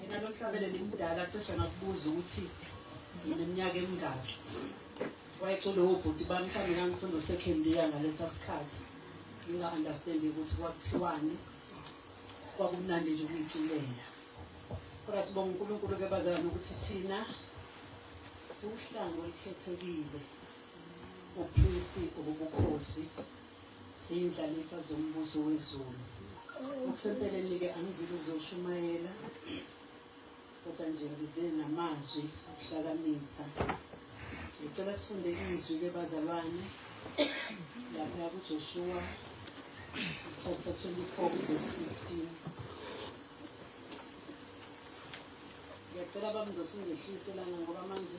Mina noThabele nimdala cishe ngakubuza ukuthi ngineminyaka emingaki. Wayecula wobhuti bami mhlawumbe ngangifunda usekhendiya ngalesa sikhathi. Nginga-understandi ukuthi kwakuthiwani. Kwakumnandi nje ukuyiculela. Kodwa sibonga uNkulunkulu ke bazala nokuthi thina siwuhlango olukhethekile ubupristi obubukhosi Siyindlalifa zoMbuso weZulu. Ngokusempeleni-ke angizile ukuzoshumayela, kodwa nje ngize namazwi okuhlakanipha. Ngicela sifunde izwi-ke bazalwane lapha kuJoshuwa chapter 24 verse 15. Ngiyacela bamndosi ungehlise lana ngoba manje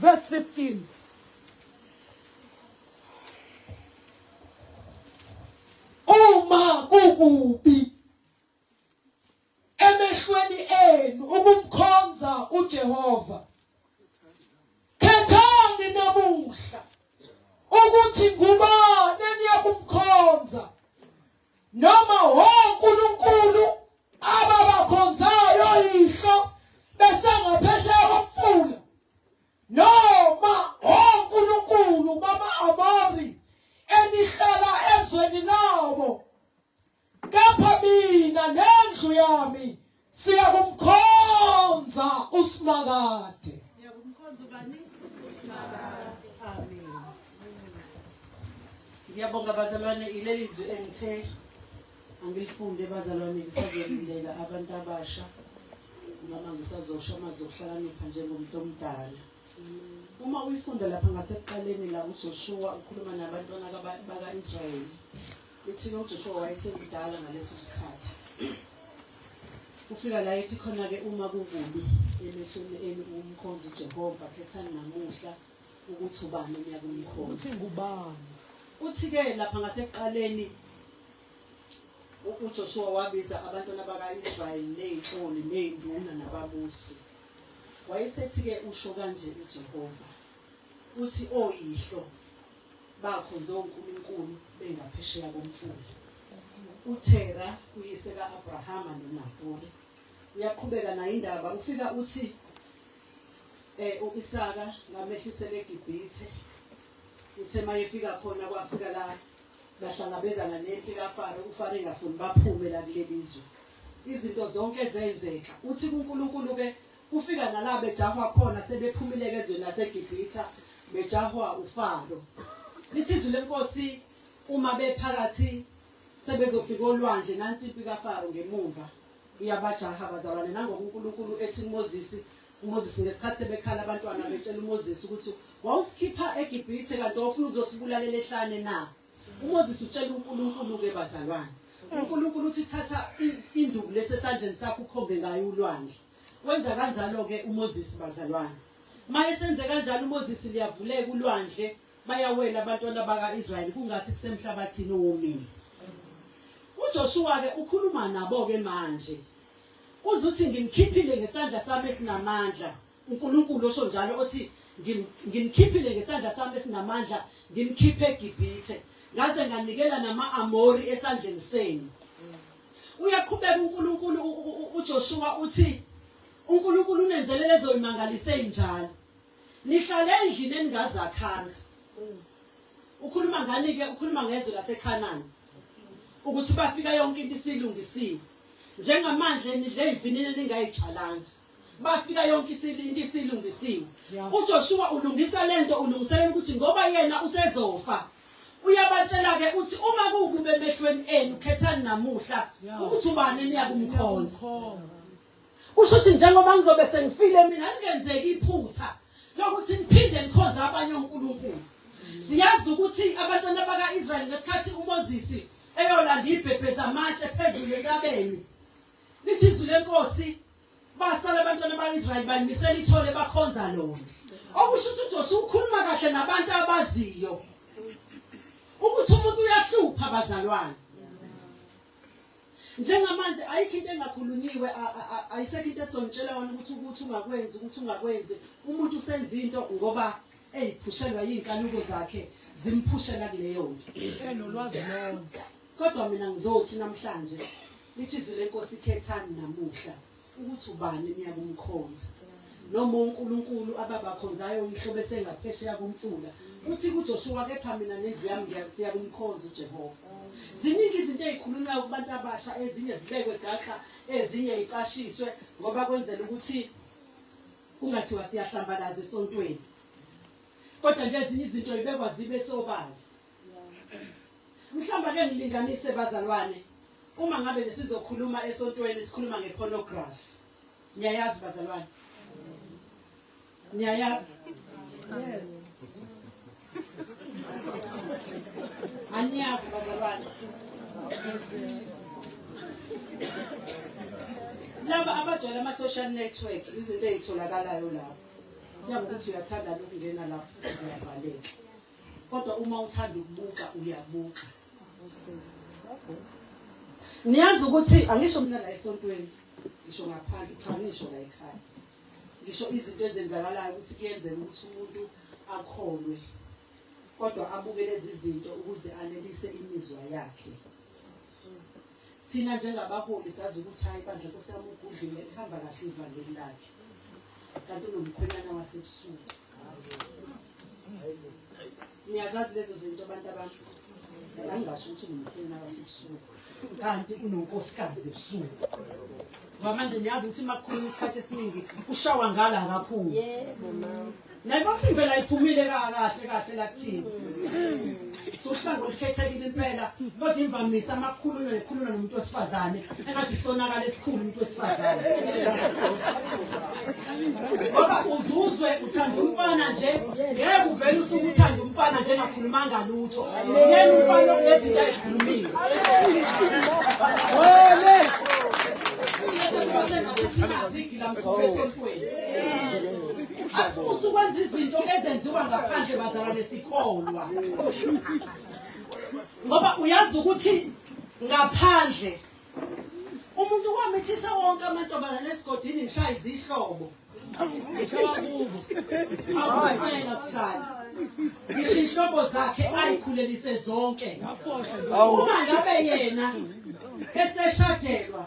Verse 15. Uma kukubi emehlweni enu ukumkhonza uJehova khethani namuhla ukuthi ngubani eniyakumkhonza Noma, ho Nkulunkulu, ababakhonzayo yihlo besangaphesheya komfula. Noma, ho Nkulunkulu, bama-Amori enihlala ezweni labo. Kepha mina nendlu yami Siyakumkhonza uSimakade. Siyakumkhonza ubani? Usimakade. Amen. Ngiyabonga bazalwane ileli zwi engithe angilifunde bazalwane ngisazolindela abantu abasha noma ngisazosho amazwi okuhlakanipha njengomuntu omdala. Uma uyifunda lapha ngasekuqaleni la uJoshua ukhuluma nabantwana baka-Israyeli Ithina uJoshuwa wayesemdala ngaleso sikhathi. Ufika la ethi khona-ke uma kukubi emehlweni enu ukumkhonza uJehova, khethani namuhla ukuthi ubani eniyakumkhonza. Uthi ngubani? Uthi-ke lapha ngasekuqaleni uJoshuwa wabiza abantwana baka-Israyeli ney'nhloli ney'nduna nababusi. Wayesethi-ke usho kanje uJehova, uthi oyihlo Bakhonze onkulunkulu bengaphesheya komfula. UThera, uyise ka-Abrahama noNahori, uyaqhubeka nayo indaba. Ufika uthi eh uIsaka ngamehlisela eGibhithe uthe mayefika khona kwafika la bahlangabezana nempi kaFaro uFaro engafuni baphume la kulelizwe izinto zonke zenzeka uthi kuNkulunkulu ke Kufika nala bejahwa khona sebephumileke ezweni laseGibhitha bejahwa uFaro. Lithi izwi lenkosi uma bephakathi sebezofika olwandle nansi impi kaFaro ngemumva iyabajaha bazalwane nangoku uNkulunkulu ethi uMoses uMoses ngesikhathi sebekhala abantwana betshela uMoses ukuthi wawusikhipha eGibhithe kanti wawufuna ukuzosibulalela ehlane na UMoses utshela uNkulunkulu-ke, bazalwane. UNkulunkulu uthi, Thatha induku lesi esandleni sakho ukhombe ngayo ulwandle. Wenza kanjalo-ke uMoses, bazalwane. Uma esenze kanjalo uMoses, liyavuleka ulwandle, bayawela abantwana baka-Israyeli kungathi kusemhlabathini owomile. UJoshuwa-ke ukhuluma nabo-ke manje. Uze uthi, Ngimkhiphile ngesandla sami esinamandla, UNkulunkulu osho njalo, othi, Ngim, Ngimkhiphile ngesandla Sami esinamandla, ngimkhiphe eGibhithe, ngaze nganikela nama-Amori esandleni senu. Uyaqhubeka uNkulunkulu, u, u, u, uJoshuwa uthi, uNkulunkulu unenzele lezo imangaliso ezinjalo. Nihlale endlini eningazakhanga. Ukhuluma ngani-ke? Ukhuluma ngezwe laseKhanani, ukuthi bafika yonke into isilungisiwe. Njengamanje nidle ivinini eningayitshalanga. bafika yonke into isilungisiwe uJoshua ulungisa lento ulungiselela ukuthi ngoba yena usezofa uyabatshela ke uthi uma kukuba emehlweni enu khethani namuhla ukuthi ubani niyakumkhonza usho ukuthi njengoba ngizobe sengifile mina angenzeki iphutha lokuthi niphinde nikhonze abanye onkulunkulu siyazi ukuthi abantwana baka-israyeli ngesikhathi umoses eyolanda ibhebhe zamatshe phezulu entabeni lithi izwi lenkosi Basala abantwana bakaIsrayeli banyisela ithole bakhonza lona. Okusho ukuthi uJoshuwa ukhuluma kahle nabantu abaziyo ukuthi umuntu uyahlupha bazalwane. Njengamanje ayikho into engakhulunyiwe ayisekho into esontshela wona ukuthi ukuthi ungakwenzi ukuthi ungakwenzi umuntu usenza into ngoba eyiphushelwa yinkanuko zakhe zimphushela kuleyonto enolwazi lonke kodwa mina ngizothi namhlanje lithi izwi lenkosi khethani namuhla ukuthi ubani niyakumkhonza noma uNkulunkulu ababakhonzayo uyihlo bese ngaphesheya komfula uthi kuJoshua kepha mina nendlu yami ngiyakusiya kumkhonza uJehova ziningi izinto ezikhulunywa kubantu abasha ezinye zibekwe gaxa ezinye icashiswe ngoba kwenzela ukuthi Kungathiwa siyahlambalaza esontweni. Kodwa nje ezinye izinto ibekwa zibe sobala. Mhlawumbe ake ngilinganise bazalwane uma ngabe nje sizokhuluma esontweni sikhuluma ngepornography. Niyayazi bazalwane? Niyayazi? Yeah. Anyazi bazalwane. Laba abajwayele ama-social network izinto ezitholakalayo lapho. Kuyabe ukuthi uyathanda ukungena lapho futhi ziyavaleka. Kodwa uma uthanda ukubuka uyabuka. Niyazi ukuthi angisho mina la esontweni ngisho ngaphandle cha ngisho la ekhaya. Ngisho izinto ezenzakalayo ukuthi kuyenzeka ukuthi umuntu akholwe kodwa abuke lezi zinto ukuze anelise imizwa yakhe. Thina njengabaholi sazi ukuthi hayi bandla Nkosi yami ugudlile lihamba kahle ivangeli lakhe. Kanti unomkhwenyana wasebusuku. Niyazazi lezo zinto abantu abantu. Angingasho ukuthi ngumkhulu nakasebusuku. Kanti unonkosikazi ebusuku. Ngoba manje niyazi ukuthi makukhuluma isikhathi esiningi kushawa ngala kakhulu. Yebo mama. Naye bathi ngivela iphumile kahle kahle la kuthina. Sohlango likhethekile impela kodwa imvamisa amakhululo ekhulula nomuntu wesifazane engathi sonakala esikhulu umuntu wesifazane ngoba uzuzwe uthanda umfana nje ngeke uvele usuke uthanda umfana nje ngakhulumanga lutho yena umfana okunezinto ayikhulumile wele asukwenza izinto ezenziwa ngaphandle bazalwane sikholwa ngoba uyazi ukuthi ngaphandle umuntu wamithisa wonke amantombazane esigodini ngishaya izihlobo ngishawa kuzo awufanele sihlala ngisho inhlobo zakhe ayikhulelise zonke uma ngabe yena eseshadelwa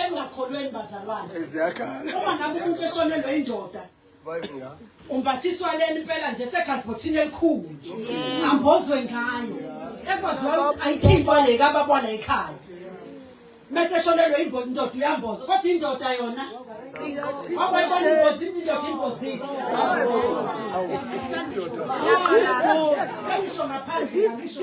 engakholweni bazalwane uma ngabe umuntu eshonelwe indoda umbathiswa leni impela nje sekhalibhothini elikhulu ambozwe ngayo ekwaziwa ukuthi ayithintwa le kababwa la ekhaya mese eshonelwe indoda uyamboza kodwa indoda yona wakwayibona ingozi indoda ingozi sengisho ngaphandle ngisho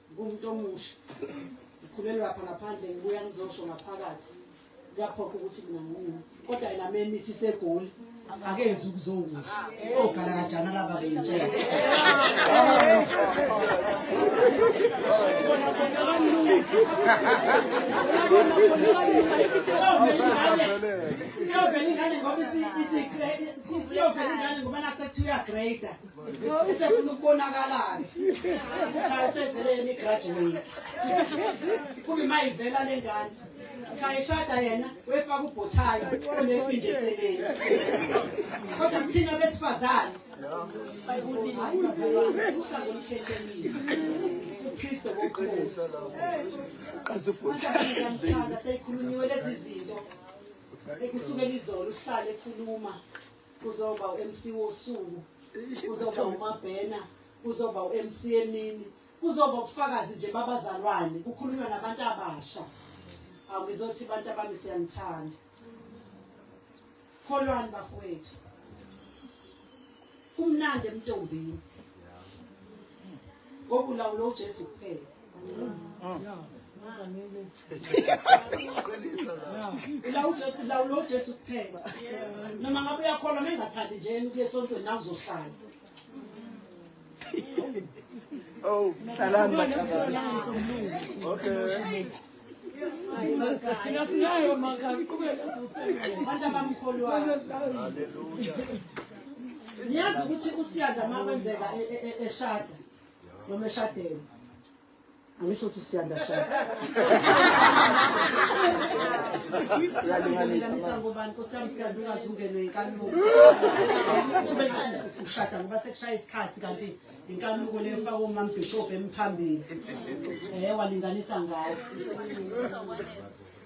Ngumuntu omusha. Ngikhulele lapha ngaphandle ngibuya ngizosho ngaphakathi. Kuyaphoqa ukuthi mina ngiwume. Kodwa yena memithi segoli. Akenzi ukuzowusho. Ogala kanjani laba bentshela. Siyovela ingane ngoba isigrade. Siyovela ingane ngoba nasekuthiwa grader. Usefuna ukubonakala-ke. Ishayo sezeleni i-graduate. Kube uma ivela le ngane. Shayishada yena wefaka ubhothayo onefi nje eceleni. Kodwa kuthina besifazane. Bayibulisa abazalwane. Uhlanga olukhethekile. uKristu wokuqinisa. Kaze ubhothayo. Ngiyamthanda seyikhulunyiwe lezi zinto. Ekusukela izolo uhlale ekhuluma. Kuzoba uMC wosuku. Kuzoba uMabhena, kuzoba uMC emini. Kuzoba ubufakazi nje babazalwane, kukhulunywa nabantu abasha. Awuzothi abantu abami siyanithanda. Kholwani bafowethu. Kumnandi emntombini. Ngokulawo lo Jesu kuphela. lawula ujesu kuphela noma ngabe uyakhona uma engathandi nje yena ukuye esontweni nawe uzohlala Oh, salani Okay. Thina sinayo makhaya iqhubeka abantu abamkholwayo. Hallelujah. Niyazi ukuthi usiyanda makwenzeka eshada. noma eshadele angisho ukuthi siyanda shada uyalinganisa ngobani nkosi yami siyanda ungaze ungenwe inkanuko ube ushada ngoba sekushaya isikhathi kanti inkanuko le faka omambhishobhu emphambili um walinganisa ngayo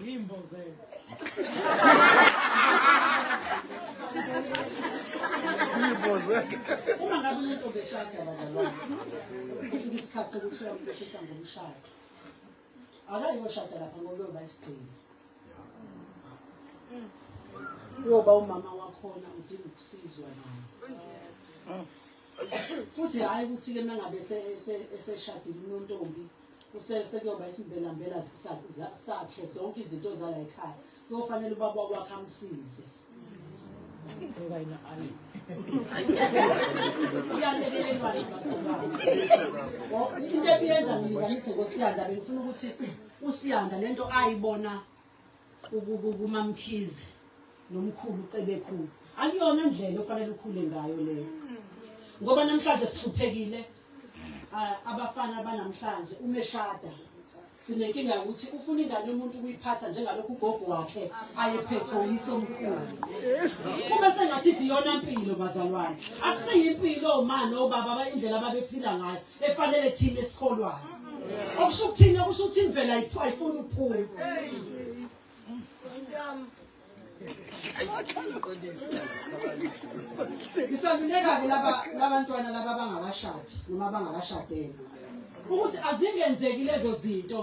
Ngimbo vele. Ngiboze. Uma ngabe umuntu obeshada abazalwane. Ukuthi isikhathi sokuthi uyampesisa ngomshado. Akayoshada lapha ngoba uyoba isigcino. Uyoba umama wakhona udinga ukusizwa naye. futhi hhayi ukuthi-ke uma ngabe eseshadile unontombi sekuyoba isimbelambela sakhe zonke izinto zala ekhaya kuyofanele ubaba wakwakhe amsize into ebiyenza ngilinganise ngosiyanda bengifuna ukuthi usiyanda le nto ayibona kumamkhize nomkhulu cebekhulu akuyona ndlela ofanele ukhule ngayo leyo ngoba namhlanje sihluphekile abafana banamhlanje umeshada sinenkinga yokuthi ufuna ingane yomuntu ukuyiphatha njengalokhu ugogo wakhe ayephethe uyise omkhulu kube sengathi ithi iyona mpilo bazalwane akuseyimpilo omani obaba indlela ababephila ngayo efanele thina esikholwayo okusho ukuthini okusho ukuthi imvelo ayifuni ukuphuma ngisaluleka-ke labantwana laba abangakashadi noma abangakashadele ukuthi azingenzeki lezo zinto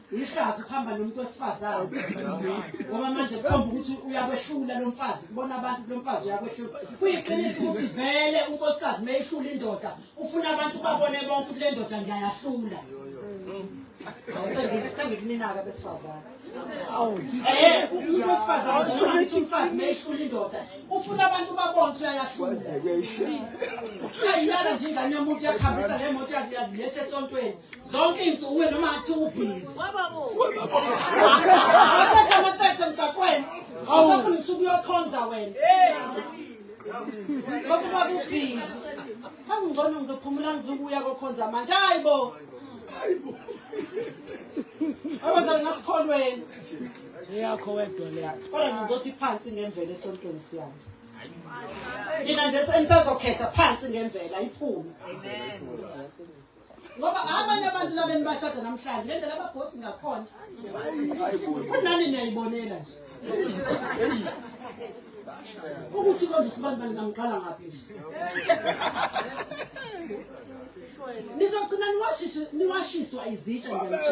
Ihlazo ukuhamba nomuntu wesifazane. Ngoba manje kukhomba ukuthi uyakwehlula lo mfazi, kubona abantu lo mfazi uyakwehlula. Kuyiqiniso ukuthi vele unkosikazi meyihlula indoda, ufuna abantu babone bonke ukuthi le ndoda ngiyayahlula. Sengikunina-ke abesifazane. Eh, umuntu wesifazane nje noma ngithi umfazi meyihlula indoda, ufuna abantu babone ukuthi uyayahlula. Ayiyala nje ingane yomuntu yakuhambisa ngemoto yakuletha esontweni. Zonke insuku wena noma athi ubhizi. Awusekho amateksi emgaqweni. Awusafuni ukuthi ukuyokhonza wena. Ngokuba kubhizi. Angingcono ngizophumula ngizokuya kokhonza manje. Hayibo. Hayibo. Abazali ngasikholweni. Eyakho wedwa le. Kodwa ngizothi phansi ngemvelo esontweni siyami. Mina nje senisazokhetha phansi ngemvela iphume. Amen. ngoba abanye abantu laba enibashada namhlanje le ndlela ababhosi ngakhona futhi nani niyayibonela nje ukuthi konje sibantu baningamqala ngaphi nje nizogcina niwashiswa izitsha nje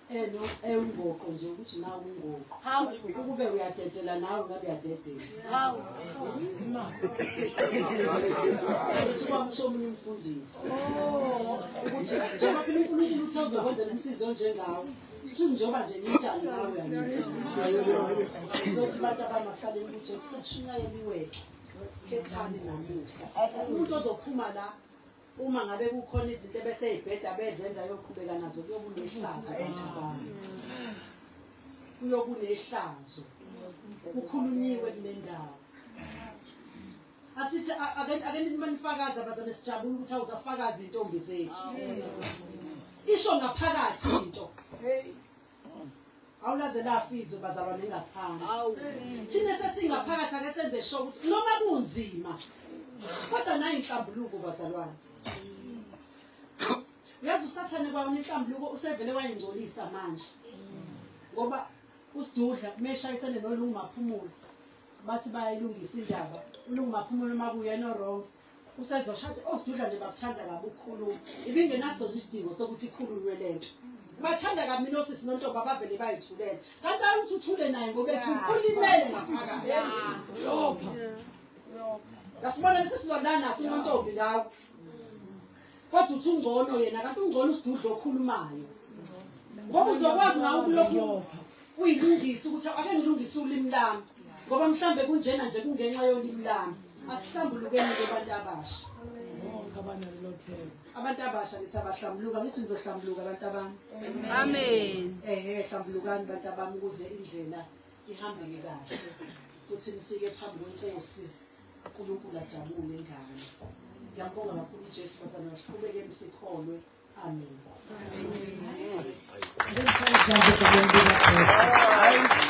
eno ewungoqo nje ukuthi nawe ungoqo hawu ukube uyadedela nawe ngabe uyadedela hawu kuthiwa kusho omunye umfundisi oh. ukuthi njengoba phela unkulunkulu uthe uzokwenza nomsizi onjengawo njengoba nje ngitshani nawe uyangizothi abantu abamasaleni kujesu sashumayeliweke khethani namuhla umuntu ozophuma la Uma ngabe kukhona izinto ebeseyibheda bezenza yoqhubeka nazo kuyokunehlazo kanjabana. Kuyokunehlazo. Kukhulunyiwe kule ndawo. Asithi ake nimanifakaza bazame sijabula ukuthi awuzafakaza intombi zethu. Isho ngaphakathi into. Hey. Awulaze lafa izwe bazalwane ngaphandle. Thina sesingaphakathi ake senze sho ukuthi noma kunzima kodwa nayo inhlambuluko bazalwane. Uyazi usathane kwayona inhlambuluko usevele wayingcolisa manje. Ngoba usidudla kumeshayisene nolungu maphumule. bathi bayayilungisa indaba ulungumaphumulo uma kuyena orong usezosho athi osidudla nje bakuthanda kabi ukukhuluma ibingenasona isidingo sokuthi ikhulunywe le nto bathanda kabi mina osisi nontoba bavele bayithulela kanti ayi ukuthi uthule naye ngoba ethi ulimele ngaphakathi lopha ngasibona lesi silondana sinontombi ngawo Kodwa uthi ungcono yena kanti ungcono usidudla okhulumayo. Ngoba uzokwazi ngawo ukulokhu uyilungisa ukuthi ake ngilungise ulimi lami ngoba mhlambe kunjena nje kungenxa yolimi lami. Asihlambulukeni ke abantu abasha. Abantu abasha ngithi abahlambuluka ngithi nizohlambuluka abantu abami. Amen. Eh hlambulukani abantu abami ukuze indlela ihambeke kahle. Futhi nifike phambi kwenkosi. uNkulunkulu ajabule ngani ngiyabonga kakhulu uJesu bazalwane siqhubekeni sikholwe amen amen